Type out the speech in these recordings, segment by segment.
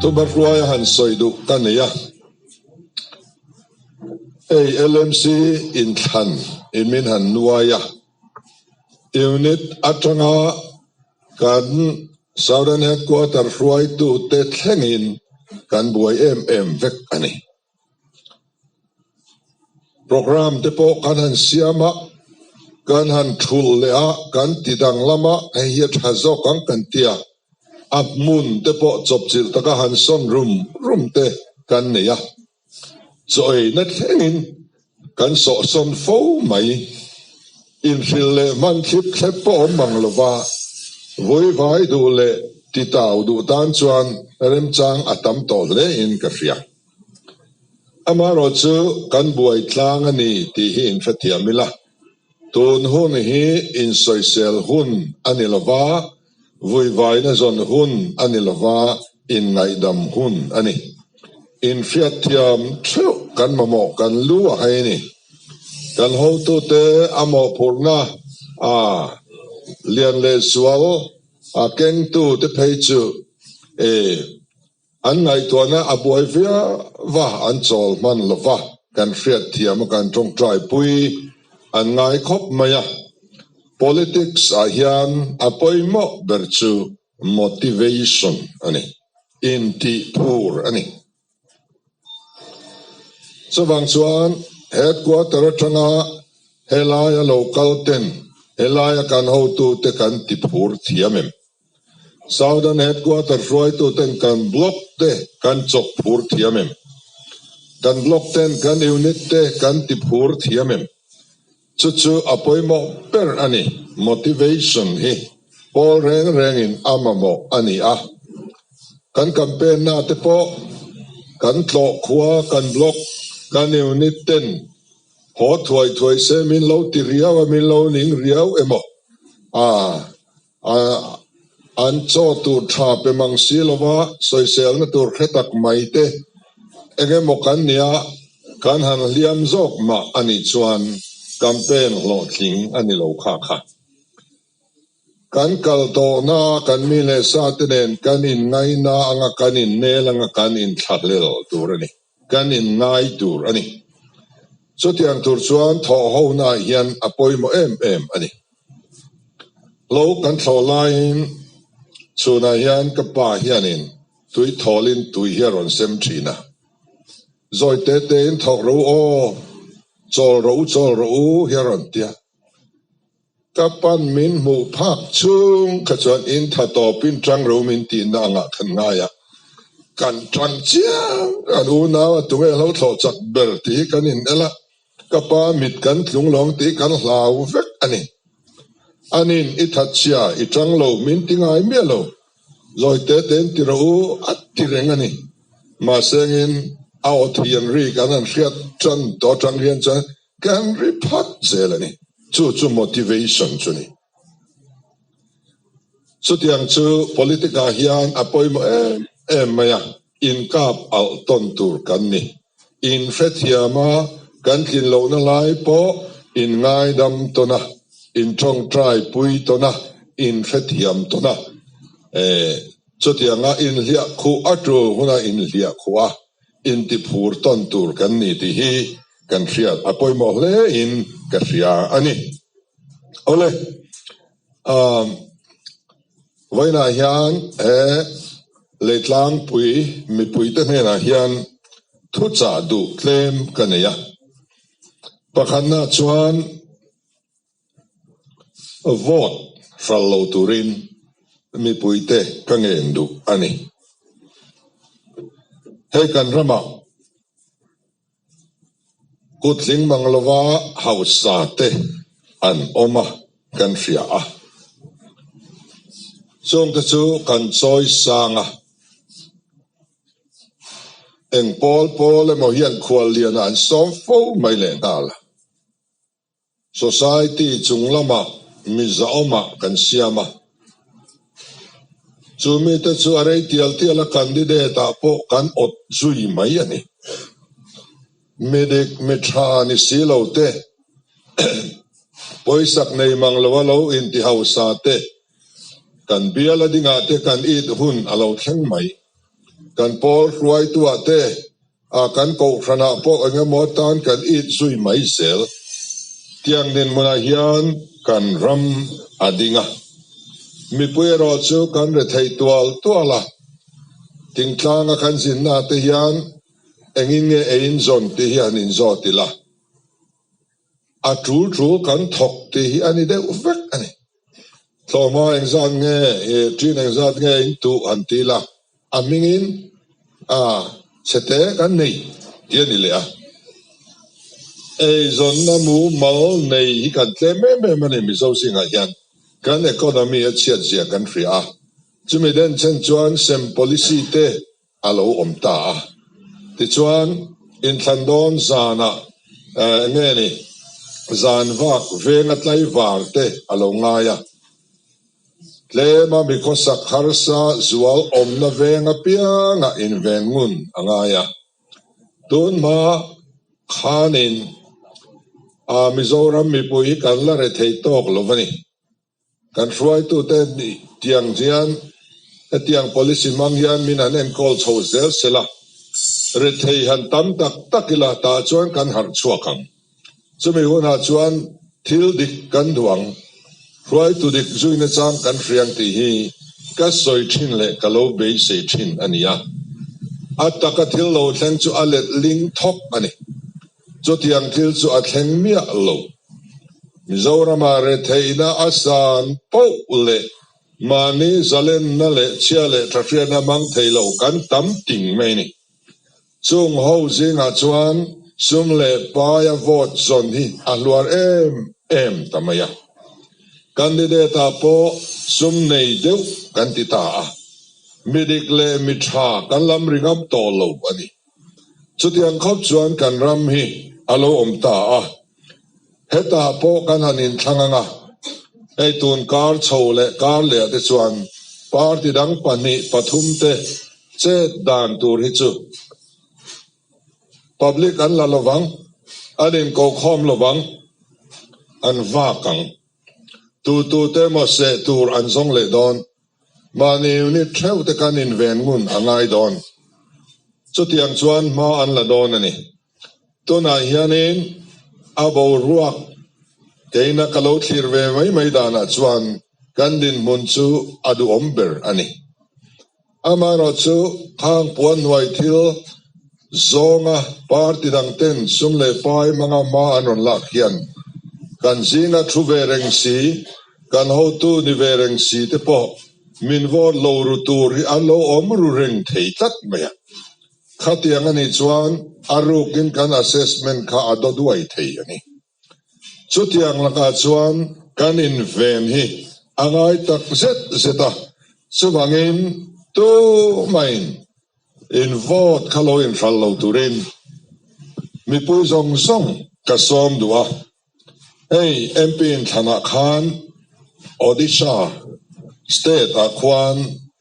Tuma hruaia han sawi duh ka ni a. Ei, LMC in thlan i min han nuai a. Unit atanga kan Southern Headquarter hruaitute thlengin kan buai em em vek a ni. Programme te pawh kan han siam a, kan han thulh leh a, kan ti dang lama hei hi a tha zawk ang kan ti a, a hmun te pawh chawpchilh taka han sawn rum rum te kan nei a. Chawiina thlengin kan sawhsawn fo mai. Inhril leh hmanthlip thlep pawh awm ang lova, vawivaii duh leh titau duh tan chuan remchang a tam tawh hle in ka hria. Amaherawh chu kan buai tlang a ni tih hi in hrethiam ila, tun hun hi insawisel hun a ni lova, Vuivaina zawn hun a ni lova, inngaidam hun a ni. Infiat thiam theuh kan mamawh kan lu a hai a ni. Kan hotute a mawhphurhna a lian leh sual a kengtute phei chu e. An ngaihtuahna a buai viau a, an chawl hman lo va, kan hriatthiam a kan tawngtai pui, an ngai khawp mai a. Politics ah hian a pawimawh ber chu motivation a ni, intih phur a ni. Chuvang chuan Headquarter atanga helaia local ten helaia kan hotute kan ti phur thiam em? Southern Headquarter hruaitu ten kan block te kan chawk phur thiam em? Kan block ten kan unit te kan ti phur thiam em? Chu chu a pawimawh ber a ni. Motivation hi pawl reng rengin a mamawh a ni a. Kan campaign-na te pawh kan tlawh khua, kan block, kan unit ten haw thuai thuai se min lo ti riau a, min lo ning riau emaw? Aah. An chaw tur tha pe mang si lo va, sawiselna tur hre tak mai te eng emaw kan nia kan han hliam zawk mah a nih chuan kan pen hlawhtling a ni lo kha kha. Kan kal tawhna kan mi leh sa te nen kan inngaina anga kan innel anga kan inthla hlel tur a ni. kan inngai tur a ni. Chutiang tur chuan thawhhonaah hian a pawimawh em em a ni. Hlo kan thlawh laiin chhunah hian ka pa hianin tui thawlin tui hi a rawn sem thin a, Zawi te tein thawh ro aw, chawl ro u chawl ro u hi a rawn ti a. Ka pan min hmuh phak chung kha chuan in tha tawpin tang ro min tihna angah khan ngai a kan tang chiang an unau a tunge hlo thlawh chak ber tih hi kan inel a ka pa mit kan tlung lawng tih kan hlau vek a ni a nin i that sia i tang lo min ti ngai miah lo zawi te ten ti rawh u a ti reng a ni mahse ngin a aw thian ri kan han hriat tan tawh tang hian chuan Kan ri phat zel a ni. Chu chu motivation chu ni. Chutiang chu politic ah hian a pawimawh em em mai a inkap alh tawn tur kan ni. In hrethiam a, kan tlin lohna lai pawh in ngaidam tawn a, in tawng try pui tawn a, in hrethiam tawn a. Chutiang a in hliah khuh a tu huna in hliah khuh a. intiphur tawn tur kan ni tih hi kan hriat a pawimawh hle in ka hria a ni. Awle umm vawiinah hian he Leitlangpui mipuite hnenah hian thuchah duh tlem ka nei a, pakhatna chuan, Vote hral lo turin mipui te ka ngen duh a ni. Hei kan ramah Kutling Manglova hausa te an awm a, kan hriah a. Chung te chu kan chawi sang a, eng pawl pawl emaw hian khuallian ah an sawm fo mai leh nghal. Society chung lama mi zahawmah kan siam a, chu mite chu a rei tial tial a candidate ah pawh kan awt zui mai a ni. Mi dik mi tha ni si lo te, pawisak nei mang lo a lo in ti hausa te, kan bial a dingah te kan it hun a lo thleng mai. Kan pawl hruaitu ah te, A kan kohhranah pawh engemaw tan kan it zui mai zel. Tiang nen hmunah hian kan ram a ding a, mipui erawh chu kan re thei tual tual a. Thingtlanga kan zinna te hian engin nge eiin zawn tih hi han inzawt ila. A tul chu kan thawk tih hi a ni deuh vek a ni. Tlawma engzat nge i ṭin engzat nge in tuh han ti ila, a hmingin chhete kan nei tih a ni leh a. Eizawnna mumal nei hi kan tlem em em a ni. Mizo zingah hian kan economy a chhiat ziah kan hria a. Chumi denchhen chuan sem policy te a lo awm ta a, tichuan inthlan dawn zanah nge ni zan vak venga tlaivang te a lo ngai a, tlema mi khawsak harsa zual awmna veng apianga inveng ngun a ngai a, tun hma khanin Mizoram mipui kan la rethei tawk lo va ni. Kan hruaitute nih tiang hian hetiang policy hmang hian min han enkawl chho zel se la, rethei han tam tak tak ila tah chuan kan harh chhuak ang. Chumi hunah chuan thil dik kan duh ang, hruaitu dik zuina chang kan hriang tih hi ka sawi thin leh ka lo beisei thin a ni a. A taka thil lo thleng chu a let ling thawk a ni. Chutiang thil chu a thleng miah lo. Mizorama retheihna a san poh leh mahni zalenna leh chhia leh tha hriatna hmang thei lo kan tam ting mai ni. Chung ho zingah chuan sum leh paia vote zawn hi a hluar em em ta mai a. Candidate-a pawh sum nei deuh kan ti ta a, mi dik leh mi tha kan lam ri ngam tawh lo a ni. Chutiang khawp chuan kan ram hi a lo awm ta a, heta pawh kan han inthlâng ang a, hei tun kar chho leh kar leh te chuan party dang pahnih pathum te chet dan tur hi chu public an la lovang, an inkokhawm lovang, an vak ang. Tutute maw seh tur an zawng leh dawn. Mahni unit theu te kan inven ngun a ngai dawn. Chutiang chuan hma an la dawn a ni. Tunah hianin a boruak keina ka lo thlir ve mai mai danah chuan kan dinhmun chu a duhawm ber a ni. Amaherawhchu khang puan hnuai thil Zawnga party dang ten sum leh fai hmanga hma an rawn lak hian kan zinga thu ve reng si, kan hotu ni ve reng si te pawh min vote lo ru tur hi an lo awm ru reng thei tlat mai a. Khatiang a nih chuan a rukin kan assessment kha a daw duai thei a ni. Chutiang lakah chuan kan inven hi a ngai tak zet zet a, chuvangin tumain in vote kha lo inhral lo turin mipui zawng zawng ka sawm duh a, hei MP inthlanah khan Odisha state ah khuan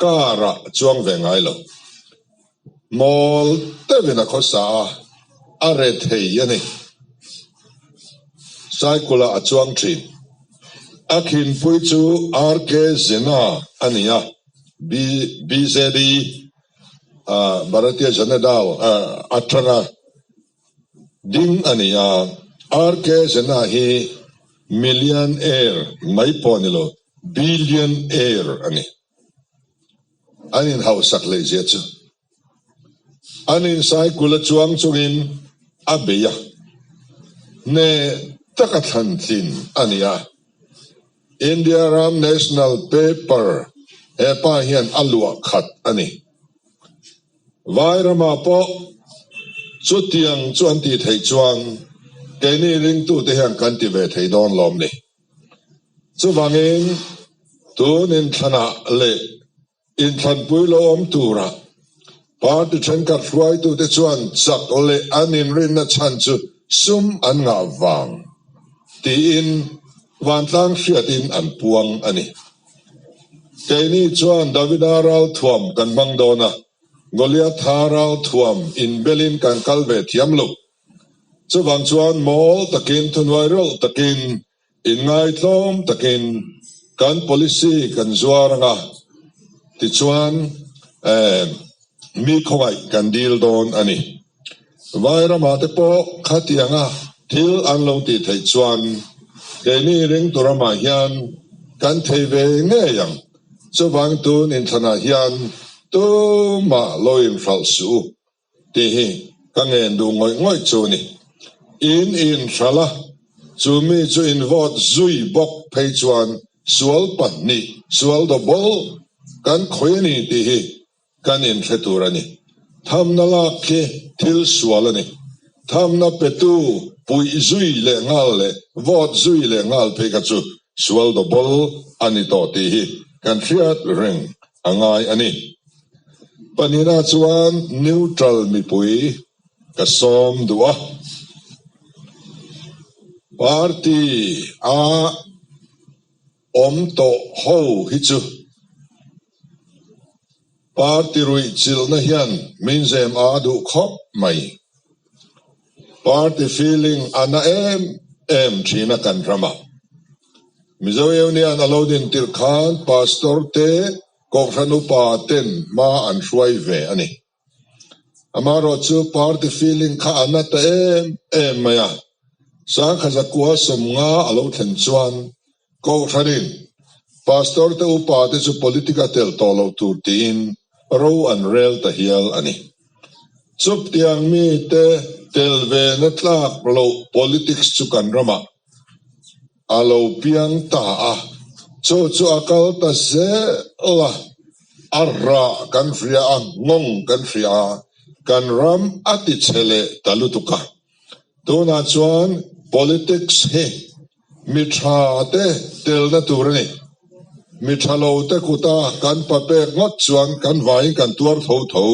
Car ah chuang ve ngai lo. Mawl teuh in a khaw sa a, a re thei a ni. Cycle ah a chuang thin. A khinpui chu RK Zena a ni a, bjp, Bharatiya Janata, atanga Ding a ni a, RK Zena hi Millionaire mai pawh ni lo, Billionaire a ni. An inhausak leihzia chu an insai-kul a chuang chungin a bei a, hne taka thlan tlin a ni a. India ram national paper hepa hian a luah khat a ni. Vai ramah pawh chutiang chu an tih theih chuan keini ringtute hian kan ti ve thei dawn lawm ni. Chuvangin tun in thlanah leh Inthlanpui lo awm turah party thenkhat hruaitute chuan chak leh an inrinna chhan chu sum an ngah vang tiin vantlang hriatin an puang a ni. Keini chuan Davida ral thuam kan hmang dawn a, Goliatha ral thuam inbelin kan kal ve thiam lo. Chuvang chuan mawl takin thunuai reuh takin Inngaithlawm takin kan policy kan zuar anga tichuan mi khawngaih kan dil dawn a ni. Vai ramahte pawh khatianga thil an lo ti theih chuan keini reng tur amah hian kan thei ve ngei ang. Chuvang tun inthlana hian tumah lo inhralh suh u tih hi ka ngen duh ngawih ngawih chu ni. In in hral a, chu mi chu in vote zui bawk phei chuan sual pahnih sual do bawlh kan khawih a ni tih hi kan in hre tur a ni. Thamna lak khi thil sual a ni. Thamna petu puih zui leh nghal leh vote zui leh nghal phei kha chu Sual dawbawlh a ni tawh tih hi kan hriat reng a ngai a ni. Pahnihna chuan neutral mipui ka sawm duh a, party a awm tawh ho hi chu. Party ruihchilhna hian min zem ah a duh khawp mai. Party feeling a na em em thin a kan ram a. Mizo union a lo din tirh khan Pastor te, Kawnghranu pa ten hma an hruai ve a ni. Amah erawh chu party feeling kha a na ta em em mai a. Sangkha zakua sawm nga a lo thlen chuan Kohhran in Pastor te upa te chu politic a telh tawh lo tur tiin ro an rel ta hial a ni. Chawp tiang mi te tel ve na tlak loh politics chu kan ramah. A lo piang ta a, chu chu a kal ta zel a, a rah kan hria a, ngawng kan hria a, kan ram a ti chhe leh ta lutuk a. Tunah chuan politics hi mi tha te telna tur a ni. Mi tha lo te kuta kan pa pek ngawt chuan kan vaiin kan tuar tho tho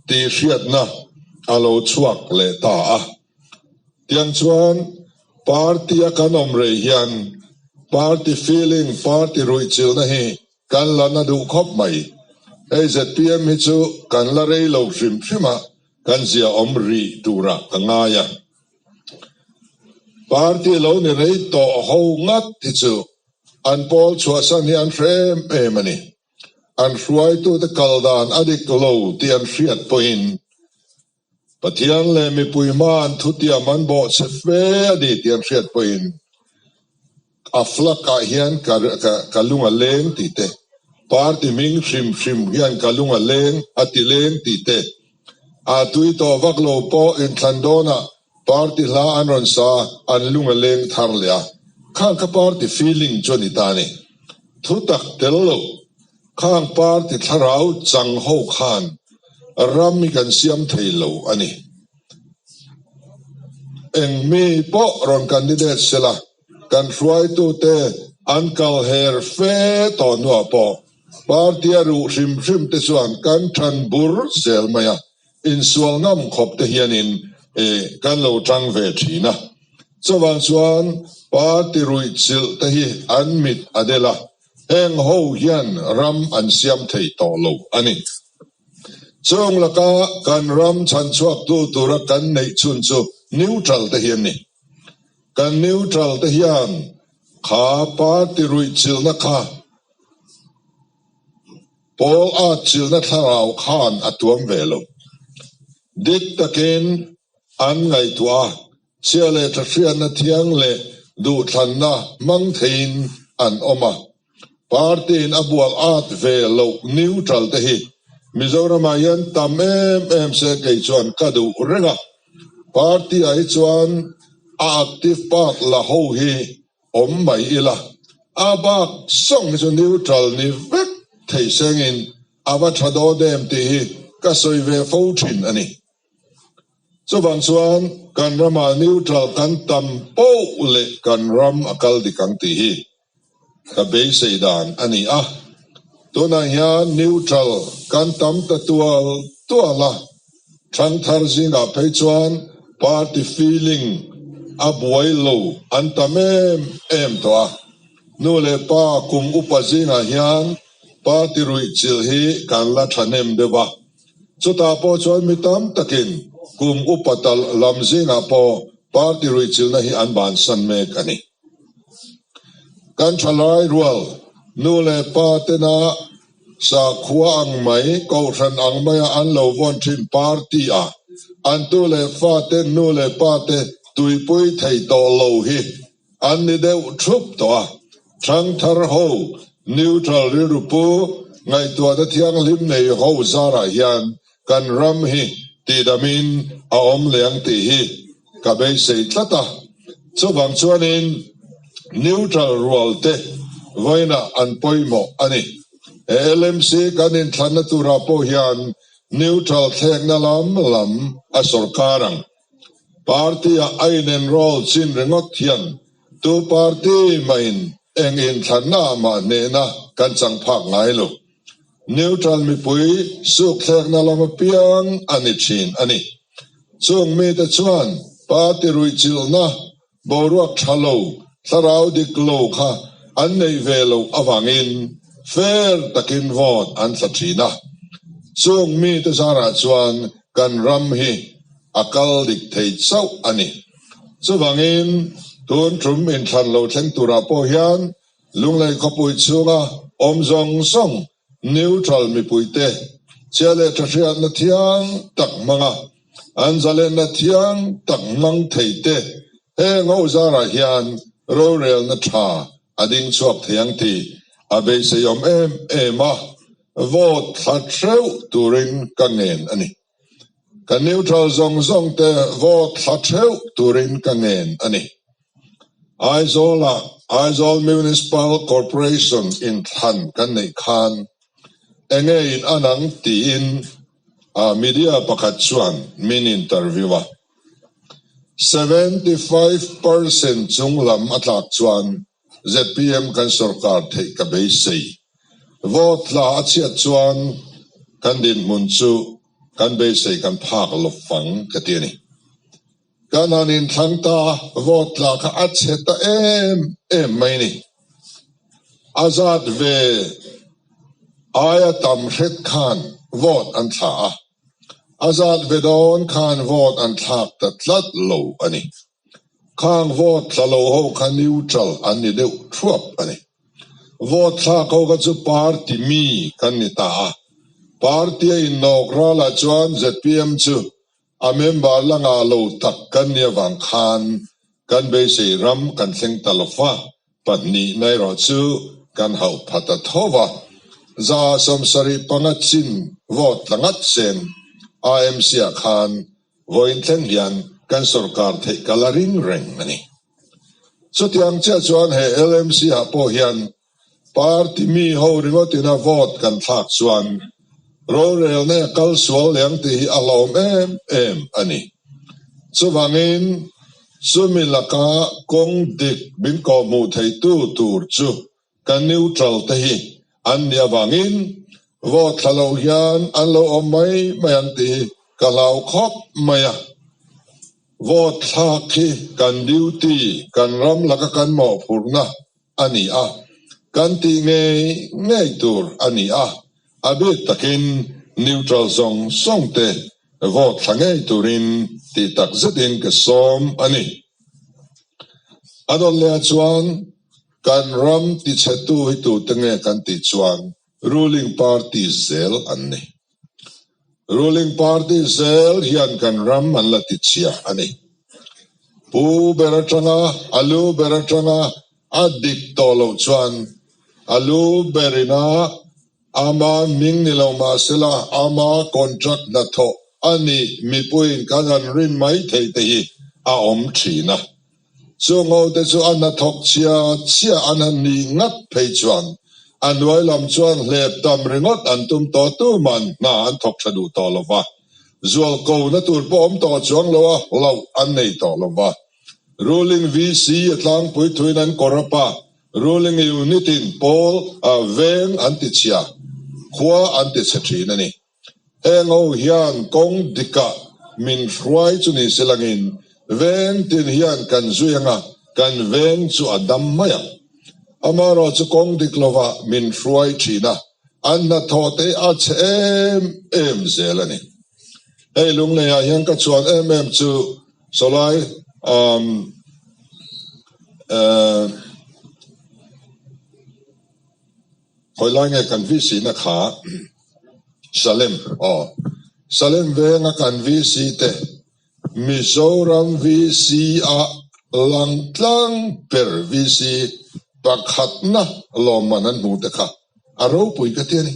tih hriatna a lo chhuak leh ta a. Tiang chuan party a kan awm rei hian party feeling, party ruihchilhna hi kan la na duh khawp mai. Hei zpm hi chu kan la rei lo hrim hrim a, kan zia awm rih tura ka ngai a. Party lo ni rei tawh ho ngat hi chu an pawl chhuahsan hi an hrem em a ni. An hruaitute kal dan a dik lo tih an hriat pawhin, Pathian leh mipui hmain thutiam an bawh che fe a ni ti an hriat pawhin a flak ah hian ka lung a leng ti te, party hming hrim hrim hian ka lung a leng a ti leng ti te a tui tawh vak lo pawh inthlan dawn ah party hla an rawn sa an lung a leng thar leh a. Khang kha party feeling chu a ni ta a ni. Thu tak tel lo. Khang party thlarau chang ho khan ram hi kan siam thei lo a ni. Eng mi pawh rawn candidate se la, kan hruaitu te an kal her fe tawh hnuah pawh party a ruh hrim hrim te chuan kan than bur zel mai a, insual ngam khawp te hianin kan lo tang ve thin a. Chuvang chuan party ruihchilh te hi an mit a del a, heng ho hian ram an siam thei tawh lo a ni. Chûng laka kan ram chhan chhuaktu tura kan neih chhûn chu neutral te hi an ni. Kan neutral te hian kha party ruihchilna kha pawl atchilna thlarau khan a tuam ve lo. Dik takin an ngaihtuah a. Chhia leh tha hriatna thiang leh duhthlanna hmang theiin an awm a. Party-in a bual at ve loh neutral te hi Mizoramah hian tam em em se kei chuan ka duh reng a. Party-ah hi chuan a active bak la ho hi awm mai ila, a bak zawng hi chu neutral ni vek thei sengin a va tha daw dem tih hi ka sawi ve fo thin a ni. Chuvang chuan kan rama neutral kan tam poh leh kan ram a kal dik ang tih hi ka beisei dan a ni a, tunah hian neutral kan tam ta tual tual a, thangthar zingah phei chuan party feeling a buai lo an tam em em tawh a, nu leh pa kum upa zingah hian party ruihchilh hi kan la thahnem deuh a. Chutah pawh chuan mi tam takin kum upa tal lam zingah pawh party ruihchilna hi an bansan mek a ni. Kan thalai rual nu leh pa tena sakhuaa ang mai, kohhran ang maia an lo vawn thin party ah an tu leh fate, nu leh pate tuipui thei tawh lo hi. An ni deuh thup tawh a, thangthar ho, neutral rilru pu, ngaihtuahna thianghlim nei ho zarah hian kan ram hi tihdamin a awm leh ang tih hi ka beisei tlat a. Chuvang chuanin neutral rual te vawiinah an pawimawh a ni. He LMC kan inthlanna turah pawh hian neutral thlekna lam lam a sorkar ang. Party ah a inenroll chin ringawt hian tu party mahin eng in thlanna ah mah hnehna kan chang phak ngai lo. Neutral mipui sukthlekna lam apiang a ni thin a ni. Chung mite chuan party ruihchilhna, boruak tha lo, thlarau dik lo kha an nei ve loh avangin fair takin vote an tla thin a. Chung mite zara chuan kan ram hi a kal dik thei chauh a ni. Chuvangin tun ṭum inthlan lo thleng turah pawh hian Lunglei khawpui chhunga awm zawng zawng Neutral mipui te chiah leh tha hriatna thiang tak hmanga an zalenna thiang tak hmang thei te he ngawhzar ah hian rorelna tha a ding chhuak thei ang tih a beiseiawm em em a, vote thla hreuh turin ka ngen a ni. Kan neutral zawng zawng te vote thla theuh turin ka ngen a ni. Aizawl ah Aizawl Municipal Corporation in thlan kan neih khan enge in an ang tiin media pakhat chuan min interview a. Seventy five percent chung lam a tlak chuan zpm kan sorkar theih ka beisei. Vote thla a chhiat chuan kan dinhmun chu kan beisei kan phak lawp fang ka ti a ni. Kan han inthlang ta vote thla kha a chhe ta em em mai ni. A zat ve aia tam hret khan vote an thlah a, a zat ve dawn khan vote an thlak ta tlat lo a ni. Khang vote thla lo ho kha neutral an ni deuh thuap a ni. Vote thlak ho kha chu party mi kan ni ta a, party a innawk ral ah chuan zpm chu a member la ngah lo tak kan ni avang khan kan beisei ram kan thleng ta lo va, pahnih na erawh chu kan hauh pha ta tho va. Za sawmsarih panga chin vote tla ngat chen a MC ah khan Vawiinthen hian kan sorkar theih kal a ring reng a ni. Chutiang chiah chuan he LMC-ah pawh hian party mi ho ringawtina vote kan thlak chuan rorelna e kal sual liang tih hi a hlawm em em a ni. Chuvangin chumi laka kawng dik min kawhhmuh theitu tur chu Kan neutral te hi an nih avangin vote thla loh hian an lo awm mai mai ang tih hi ka hlau khawp mai a. Vote thlak hi kan duty, kan ram laka kan mawhphurhna a ni a, kan tih ngei ngei tur a ni a, a bik takin neutral zawng zawng te vote thla ngei turin tih tak zetin ka sawm a ni. A dawn leh ah chuan. Kan ram tichhetu hi tute nge kan tih chuan ruling party zel an ni. Ruling party zel hian kan ram an la tichhia a ni. Pu ber atanga, a lu ber atanga a dik tawh loh chuan a lu ber ina ama hming ni lo mahsela ama contract hnathawh a nih mipuiin ka rawn rin mai thei te hi a awm thin a. Chungaute chu a hnathawk chia chia an han nih ngat phei chuan a hnuai lam chuan hlep tam ringawt an tum tawh tu man hna an thawk tha duh tawh lo va, zual ko na tur pawh awm tawh chuang lo a hlauh an nei tawh lo va. Ruling VC a tlangpui thuin an kawr a pah, ruling unit in pawl, veng an ti chhia, khua an ti chhe thin a ni. Heng ho hian kawng dikah min hruai chu ni silangin veng tin hian kan zui anga kan veng chu a dam mai ang. Amarawh chu kawng dik lovah min hruai thina a hnathawhte a chhe em em zel a ni. Hei lungleiah hian ka chuan em em chu Solai umm eeh. Khawilai nge kan vsina kha Salem aw Salem venga kan vsi te Mizoram vsi a lang tlang ber vsi pakhatna lawmman an hmuh te kha a ropui ka ti a ni.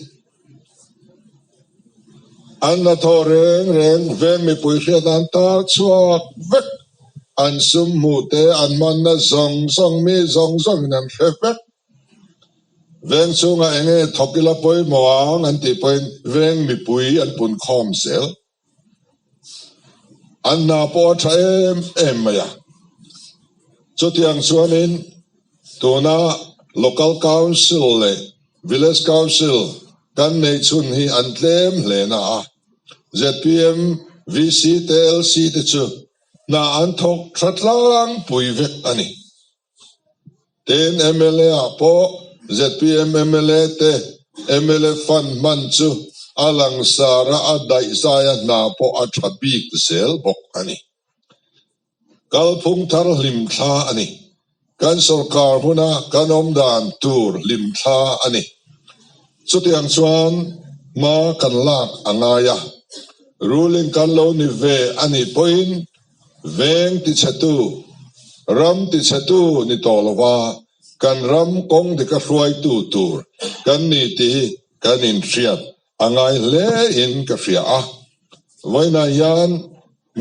An la thaw reng reng veng mipui hriat an tar chhuak vek, an sum hmuh te an manna zawng zawng mi zawng zawng in an hre vek. Veng chungah eng nge thawk ila pawimawh ang an tih pawhin veng mipui an pun khawm zel. An hna pawh a tha em em mai a. Chutiang chuanin tuna Local Council leh Village Council kan neih chhun hi an tlem hle na a, zpm, VC te LC te chu hna an thawk thatlang pui vek a ni. Tin mla ah pawh zpm mla te mla fund hman chu a langsar a, a daihzai a hna pawh a tha bik zel bawk a ni. Kalphung thar hlim thla a ni. Kan sorkar hmun ah kan awm dan tur hlim thla a ni. Chutiang chuan hma kan lak a ngai a, ruling kan lo ni ve a nih pawhin, Veng tichhatu, ram tichhatu ni tawh lova kan ram kawng dik a hruaitu tur kan ni tih kan inhriat a ngai hle in ka hria a. Vawiinah hian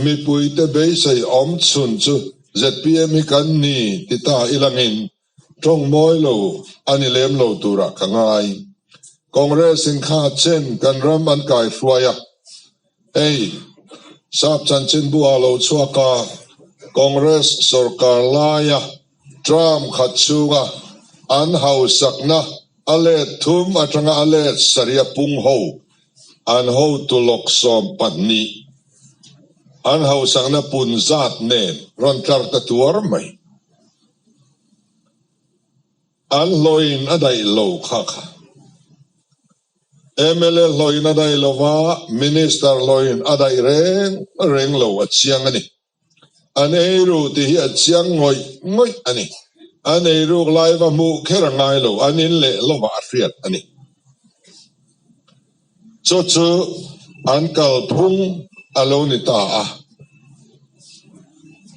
mipuite beisei awm chhun chu zpm hi kan ni ti ta i langin Tawng mawi lo a ni lem lo turah ka ngai. Congress in kha chen kan ram an kai hruai a. Hei, Sap Chanchinbu ah lo chhuak a, Congress sorkar laia term khat chunga an hausakna a let thum atanga a let sarih pung ho an hotu lawk sawm pahnih an hausakna punzat nen rawn tlar ta tuar mai. An hlawin a daih lo kha kha. Mla hlawin a daih lo va, Minister hlawin a daih reng reng lo a chiang a ni. An ei ruh tih hi a chiang ngawih ngawih a ni. An ei ruk lai va hmuh kher a ngai lo, an in leh lovah a hriat a ni. Chu chu an kalphung a lo ni ta a.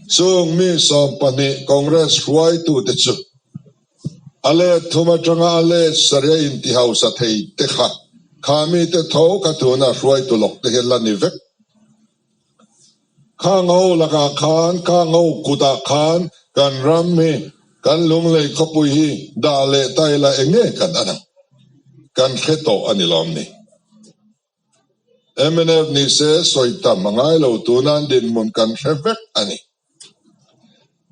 Chung mi sawm pahnih Congress hruaitute chu a let thum atanga a let sarih a inti hausa thei te kha khah mite tho kha tuna hruaitu lawkte hi a la ni vek. Khang ho lakah khan, khang ho kutah khan kan ram hi, kan lunglei khawpui hi dah leh tai lah eng nge kan an ang? Kan hre tawh a ni lawm ni? Mnf nih se sawi tam a ngai lo tun a, dinhmun kan hre vek a ni.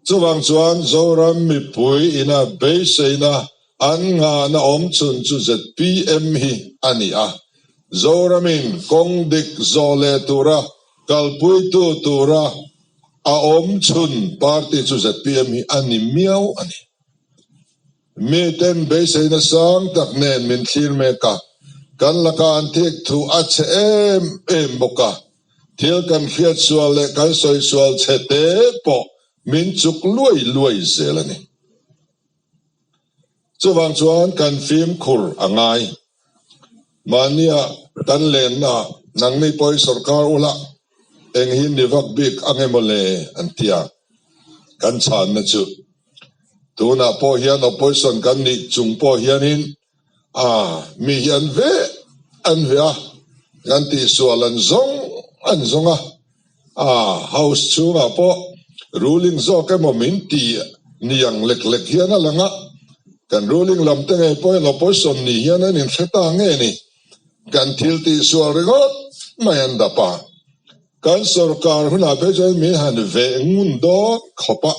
Chuvang chuan Zoram mipui ina beiseina an nghahna awmchhun chu zpm hi a ni a. Zoramin kawng dik zawh leh tura kalpuitu tura a awmchhun party chu zpm hi a ni miau a ni. Mi ten beisei nasang tak nen min thlir mek a, kan laka an thik thu a chhe em em bawk a, thil kan hriat sual leh kan sawi sual chhe te pawh min chuk luai luai zel a ni. Chuvang chuan kan fimkhur a ngai. Mahnia kan lenna ah nang mi pawh hi sorkar ula eng hi ni vak bik ange mawle an ti a, kan chhanna chu tunah pawh hian opposition kan nih chung pawh hianin ah mi hi an veh an veh a kan tih sual an zawng an zawng a. Aa, House chhungah pawh ruling zawk emaw min ti ni ang lek lek hian a lang a, kan ruling lam te ngei pawhin opposition ni hian an inthle ta nge ni? Kan thil tih sual ringawt mai an dap a, kan sorkar hunah phe chuan min han veh ngun dawn khawp a,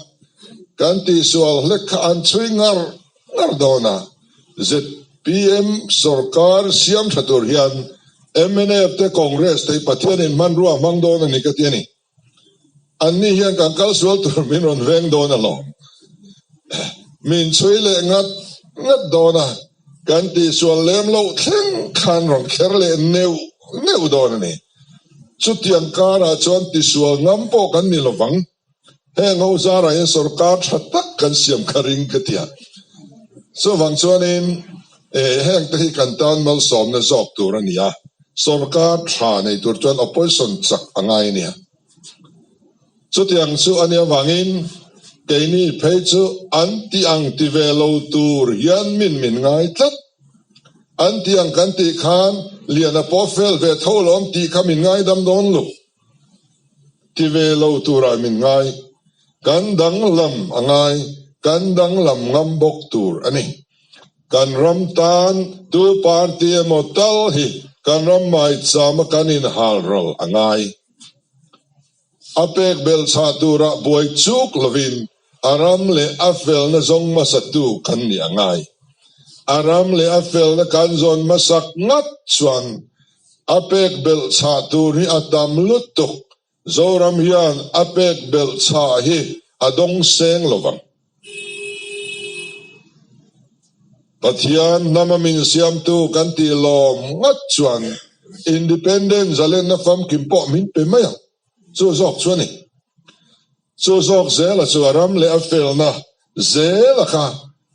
kan tihsual hlek kha an chhui ngarh. Ngar dawn a, zpm sorkar siam tha tur hian mnf te congress te Pathian in hmanrua a hmang dawn a ni ka ti a ni. An ni hian kan kal sual tur min rawn veng dawn a hlawm. Min chhui leh ngat ngat dawn a, kan tihsual lem loh thleng khan rawn kher leh neuh neuh dawn a ni. Chutiang karah chuan tisual ngam pawh kan ni lovang. heng ho zar ah hian sorkar tha tak kan siam kha ring ka ti a, chuvang chuan in eh heng te hi kan tan malsawm na zawk tur a ni a, sorkar tha nei tur chuan opposition chak a ngai a nia, chuti ang chu a nia vang in kei mi phei chu an ti ang ti ve lo tur hian min min ngai tlat, an ti ang kan tih khan lian a pawh fel ve tho lawm tih kha min ngai dam dawn lo. Ti ve lo turah min ngai. Kan danglam a ngai, kan danglam ngam bawk tur a ni. Kan ram tan tu party emaw tal hi kan ram maichama kan inhal ral a ngai. A pek belchhah turah buai chuk lovin A ram leh a felna zawng hmasatu kan ni a ngai. A ram leh a felna kan zawn hmasak ngat chuan a pek belh chhah tur hi a tam lutuk. Zoram hian a pek belh chhah hi a dawng seng lo vang. Pathian hnam a min siamtu kan tih lawm ngat chuan Independent zalenna famkim pawh min pe mai ang. Chu zawk chu a ni. Chu zawk zela chu a ram leh a felna zela kha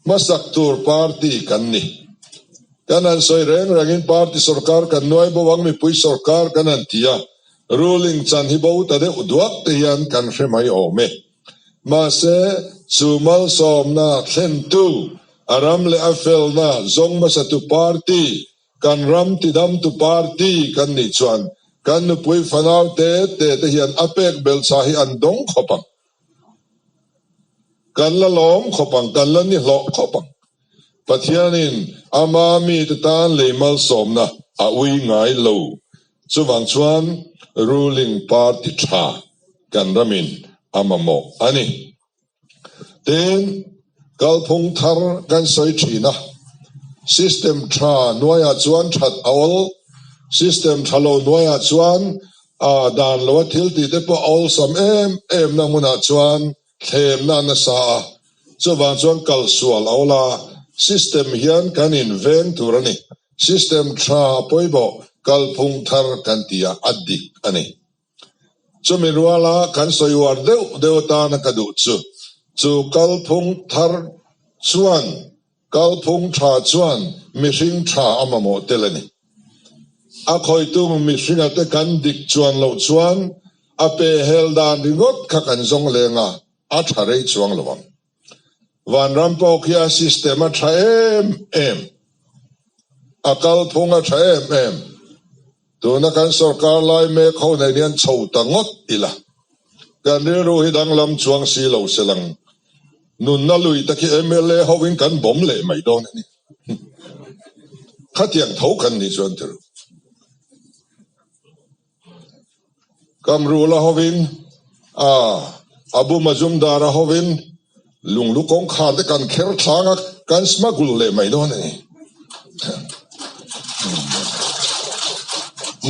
hmasak tur party kan ni. Kan han sawi reng rengin party sorkar kan nuai bo ang mipui sorkar kan han ti a, ruling chan hi bo ta deuh duak te hian kan hre mai awm e. Mahse, chu malsawmna thlentu, a ram leh a felna zawng hmasatu party Kan ram tidamtu party kan nih chuan kan nupui fanaute te te hian a pek belchha hi an dawng khawp ang. Kan la lawm khawp ang, kan la ni hlawh khawp ang. Pathianin ama mite tan lei malsawmna a ui ngai lo. Chuvang chuan ruling party tha kan ramin a mamawh a ni. Tin, kalphung thar kan sawi thin a, system tha nuaiah chuan that a awl, system tha lo nuaiah chuan aa dan loh a, thil ti te pawh a awlsam em emna hmunah chuan thlenna an la sa a, chuvang chuan kal sual a awl a, system hian kan inveng tur a ni, system tha a pawi bawk kalphung thar kan tia a dik a ni. Chumi ruala kan sawi uar deuh deuh atan a ka duh chu. Chu kalphung thar chuan kalphung tha chuan mihring tha a mamawh tel a ni. A khawitu mihringa te kan dik chuan loh chuan a pehhel dan ringawt kha kan zawng leng a, a tha rei chuang lo ang. Vanram pawh khian system a tha em em, a kalphung a tha em em, tuna kan sorkar lai mek ho nen hian chho ta ngawt ila, kan rilru hi danglam chuang si lo se lang, nunna lui te khi mla ho in kan bawm leh mai dawn a ni, khatiang tho kan nih chuan ti rawh. Kam rul a hovin a bum a zum dar a hovin lunglu kawngkhar te kan kher thlang a, kan smuggle leh mai dawn a ni.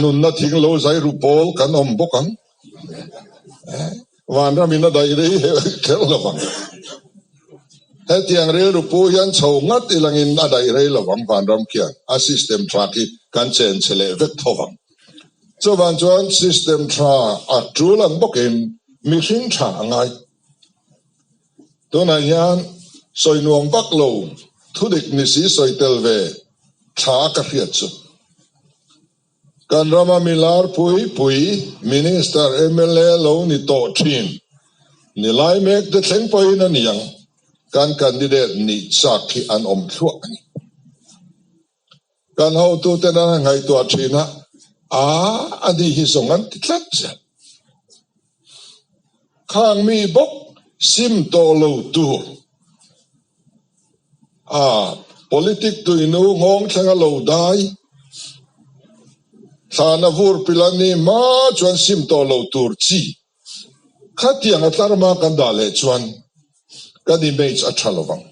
Nunna thing lo zai ru pawl kan awm bawk ang, vanram in a daih rei hi kher lo vang. Hetiang rilru pu hian chho ngat i langin a daih rei lo vang vanram khian a system thlak hi kan chen chhe leh vek tho vang. Chuvang chuan system tha a tul ang bawkin mihring tha a ngai. Tunah hian sawi nuam vak lo thudik nisi sawi tel ve tha ka hriat chu. Kan rama mi larpui pui, minister, mla lo ni tawh thin ni lai mek te thleng pawhin a ni ang. Kan candidate nih chak khi an awm thluah a ni. Kan hotu ten an han ngaihtuah thin a, Aa, anih hi zawng an ti tlat ziah. Khang mi bawk sim tawh lo tur, aa, politic tuihnu nghawng thleng a lo dai, thlan a vurpil an nih hma chuan sim tawh lo tur chi. Khatiang a tlar ma kan dah leh chuan kan image a tha lovang,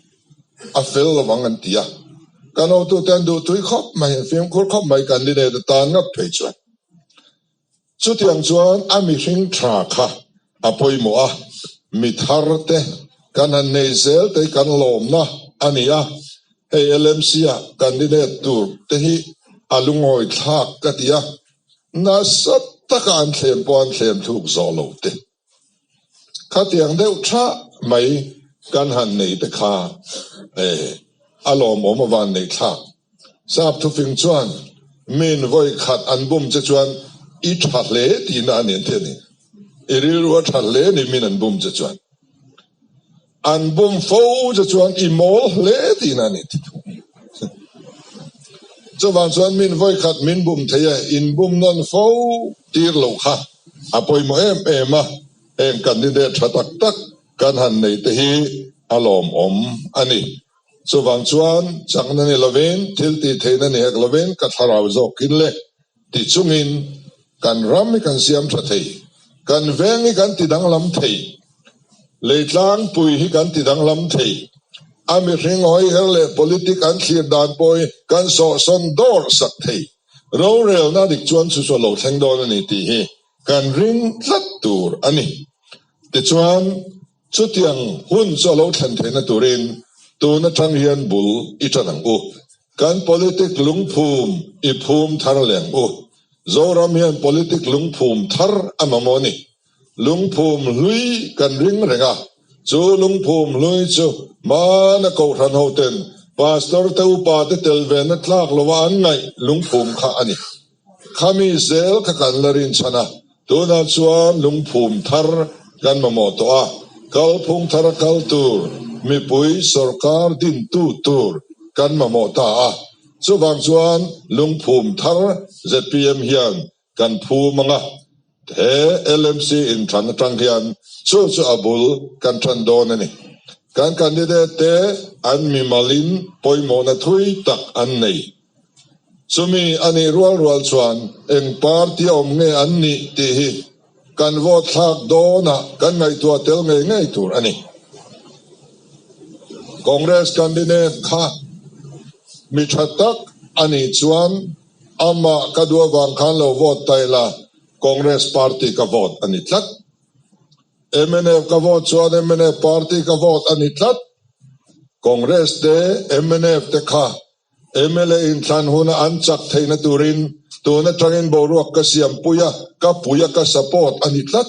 a fel lovang an ti a, kan awmtute an duh tui khawp mai, fimkhur khawp mai kan ni nen a tan ngat phei chuan. Chutiang chuan a mihring tha kha a pawimawh a, mi thar te kan han nei zel te hi kan lawmna a ni a, hei LMC-ah kan ni net tur te hi a lungawithlak ka ti a. Nasa taka an thlem pawh an thlem thluk zawh lo te. Khatiang deuh thah mai kan han nei te kha e, a lawm awm avan neih thlak. Sapthufing chuan min vawi khat an bum che chuan i tha hle tihna a nen theih a ni. I rilru a tha hle a ni min an bum che chuan. An bawm fo te chuan i mawl hle tihna an i ti thung. Chuvang chuan min vawi khat min bum thei a, in bum nawn fo tir lo kha a pawimawh em em a, heng candidate tha tak tak kan han nei te hi a lawmawm a ni. Chuvang chuan chakna ni lovin thiltihtheihna ni hek lovin ka thlarau zawkin le Tichungin kan ram i kan siam tha thei, kan veng i kan ti danglam thei, lei tlangpui hi kan ti danglam thei, a mihring hawiher leh politic an thlir dan pawh hi kan sawhsawn dawr sak thei, rorelna dik chuan chu chu a lo thleng dawn a ni tih hi kan ring tlat tur a ni. Tichuan. Chutiang hun chu a lo thlen theihna turin tun atang hian bul i tan ang u, kan politic lungphum i phum thar leng u. Zoram hian politic lungphum thar a mamawh a ni. Lungphum hlui kan ring reng a, chu lungphum hlui chu hmana Kohhran hoten Pastor te upate tel ve na tlak lova an ngaih lungphum kha a ni. Khami zel kha kan la rinchhan a, tunah chuan lungphum thar kan mamawh tawh a, kalphung thar a kal tur mipui sorkar dintu tur kan mamawh ta a, chuvang chuan lungphum thar zpm hian kan phum ang a. He LMC inthan atang hian chu chu a bul kan than dawn a ni. Kan candidate te an mimalin pawimawhna thui tak an nei. Chumi a nih rual rual chuan eng party a awm nge an nih tih hi kan vote thlak dawnah kan ngaihtuah tel ngei ngei tur a ni. Congress candidate kha mi tha tak a nih chuan Amah ka duh avang khan lo vote ta ila, Congress party ka vote a ni tlat. Mnf ka vote chuan mnf party ka vote a ni tlat. Congress te, mnf te kha mla inthlan huna an chak theihna turin tun atangin boruak ka siam pui a, ka pui a, ka support a ni tlat.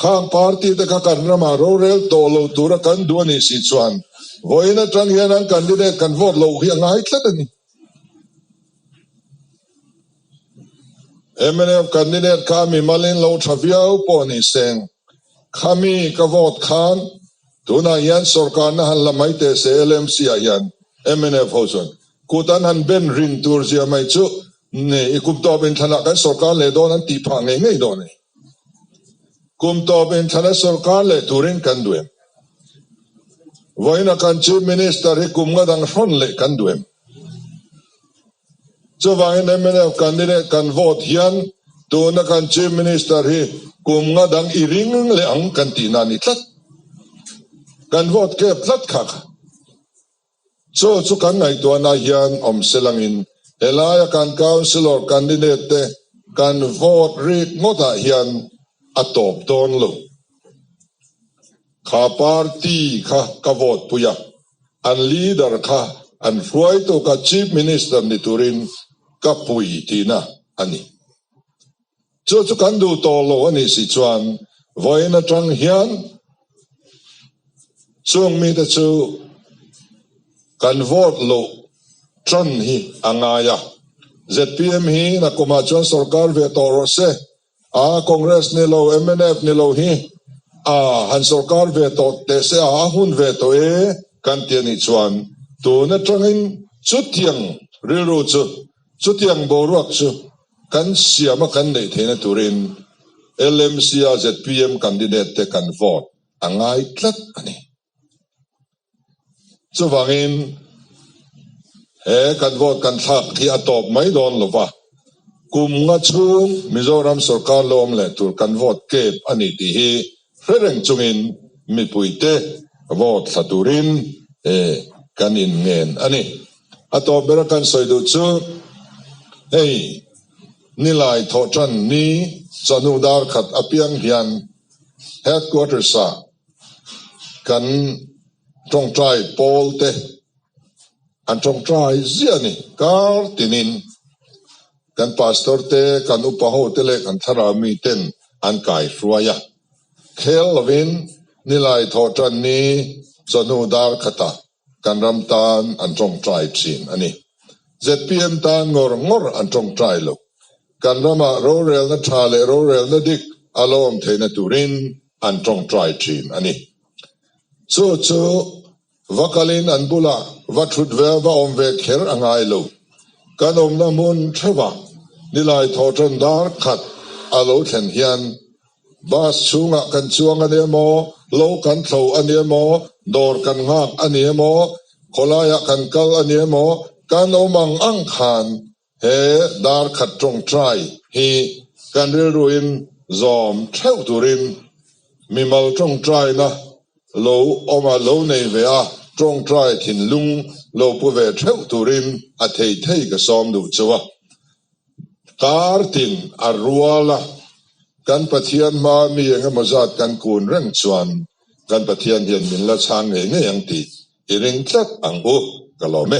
Khang party te kha kan ramah rorel tawh lo tura kan duh a nih si chuan vawiin atang hian an candidate kan vote loh hi a ngai tlat a ni. Mnm candidate kha mi malin lo tha viau pawh ni seng, khami ka vote khan tunah hian sorkarna han la mai teh se LMC ah hian mnf ho chuan kut an han ben rin tur zia mai chu i kum tawp in thlanah kan sorkar leh dawn an tih phah ngei ngei dawn a ni. Kum tawp in thla na sorkar leh turin kan duem. Vawiina kan Chief Minister hi kum nga dang hrawn leh kan duem. Chuvangin MNF candidate kan vote hian tuna kan Chief Minister hi kum nga dang i ring leh ang kan tihna ni tlat. Kan vote kep tlat khak. Chaw chu kan ngaihtuahna hian awm silangin he laia kan councillor candidate te kan vote rit ngawtah hian a tawp dawn lo. Kha party kha ka vote pui a, an leader kha an hruai tuka chief minister ni turin ka pui tihna a ni. Chu chu kan duh tawh lo a nih si chuan vawiin atang hian chung mite chu kan vote loh tan hi a ngai a. Zpm hi na kum ah chuan sorkar ve tawh rawh se a, Congress ni lo mnf ni lo hi a han sorkar ve tawh teh se a, a hun ve tawh e kan ti a nih chuan tun atangin chutiang rilru chu chutiang boruak chu Kan siam a kan neih theihna turin LMC-a zpm candidate te kan vote a ngai tlat a ni. Chuvangin he kan vote kan thlak hi a tawp mai dawn lo va, kumnga chhung Mizoram sorkar lawm leh tur kan vote kep a ni tih hi He reng chungin mipuite vote thla turin kan in ngen a ni. A tawh bera kan sawi duh chu hei nilai thawhtan ni chanu dar khat apiang hian Headquarters ah kan tawngtai pawl te an tawngtai ziah a ni kar tinin Kan Pastor te, kan upa ho te leh kan thlarau mi ten an kai hruai a. Khel lovin nilai thawh tan ni chawhnu dar khata kan ram tan an tawngtai thin a ni. Zpm tan ngawr ngawr an tawngtai lo. Kan ramah rorelna tha leh rorelna dik a lawm theihna turin an tawngtai thin a ni. Chu chu Va kal in an bulah va thut ve a, va awm ve kher a ngai lo. Kan awmna hmun theuhva nilai thaw tawn dar khat a lo thlen hian bus chhungah kan chuang a ni emaw, lo kan thlo a ni emaw, dawr kan nghak a ni emaw, khawlaiah kan kal a ni emaw, kan awm ang ang khan He darkhat tawngtai hi kan rilru in zawm theuh tur in mimal tawngtaina lo awm a lo nei ve a, tawngtai thinlung lo pu ve theuh tur in a thei thei ka sawm duh chu a kar tin a rual a, kan Pathian hma mi eng emaw zat kan kun reng chuan kan Pathian hian min la chhang ngei ngei ang ti. I ring tlat ang u ka lawm e.